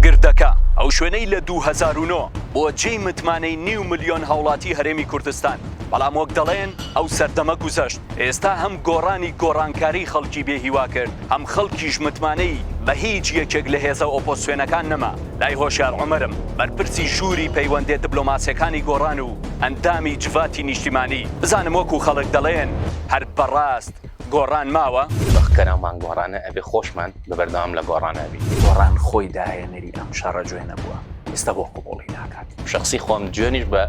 گردەکە، ئەو شوێنەی لە دوو هەزار و نۆ بووە جێی متمانەی نیو ملیۆن هاوڵاتی هەرێمی کوردستان، بەڵام وەک دەڵێن ئەو سەردەمە گوزەشت، ئێستا هەم گۆڕانی گۆڕانکاری خەڵکی بێ هیوا کرد، هەم خەڵکیش متمانەی بە هیچ یەکێک لە هێزە ئۆپۆزسیۆنەکان نەما، لای هۆشیار عومەرم، بەرپرسی ژووری پەیوەندێ دبلۆماسیەکانی گۆڕان و ئەندامی جڤاتی نیشتیمانی، بزانم وەکو خەڵک دەڵێن هەر بەڕاست گۆڕان ماوە؟ بەخ کەرەمان گۆڕانە ئەبێ خۆشمان بە بەردەوام لە گۆڕان ئەبی. گۆڕان خۆی داهێنەری ئەم شەڕە جوێنە بووە ئێستا بۆ قبوڵی ناکات. شەخسی خۆم جوێنیش بە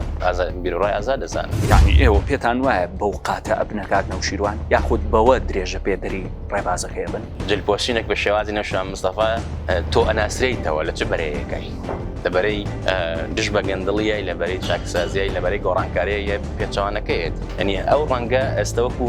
بیروڕای ئازاد دەزانم. یانی ئێوە پێتان وایە بەو قاتە ئەبنە کاک نەوشیروان یاخود بەوە درێژە پێدەری ڕێبازەکەی ئەبن؟ جل پۆشینێک بە شێوازی نەوشیروان مستەفا تۆ ئەناسرێیتەوە لە چ بەرەیەکای؟ لە بەرەی دژ بە گەندڵیای لە بەرەی چاکسازیای لە بەرەی گۆڕانکاریای پێچەوانەکەیت یانی ئەو ڕەنگە ئێستا وەکو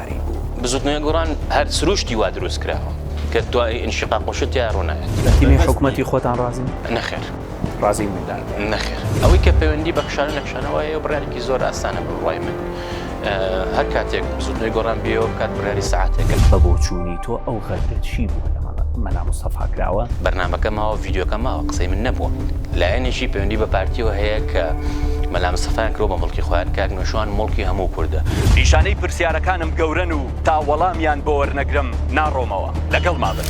دیاری بوو. بزوتنەوەی گۆڕان هەر سروشتی وا دروست کراوە کە دوای ئینشیقاق و شت تیایا ڕۆنایەت. لە تیمی حکومەتی خۆتان ڕازین؟ نەخێر. ڕازی نین لە؟ نەخێر. ئەوەی کە پەیوەندی بە کشانەو نەکشانەوە هەیە بڕیارێکی زۆر ئاسانە بە بڕوای من هەر کاتێک بزوتنەوەی گۆڕان بێیەوە بکات بڕیاری سەعاتێکە. بە بۆچوونی تۆ ئەو غەدرە چی بووە لە مەلا مستەفا کراوە؟ بەرنامەکە ماوە ڤیدیۆکە ماوە قسەی من نەبووە. لایەنێکی پەیوەندی بە پارتیەوە هەیە کە مەلا مستەفایان کردوە بە موڵکی خۆیان، کاک نوێشوان موڵکی هەموو کوردە. نیشانەی پرسیارەکانم گەورەن و تا وەڵامیان بۆ وەرنەگرم ناڕۆمەوە. لەگەڵما بن.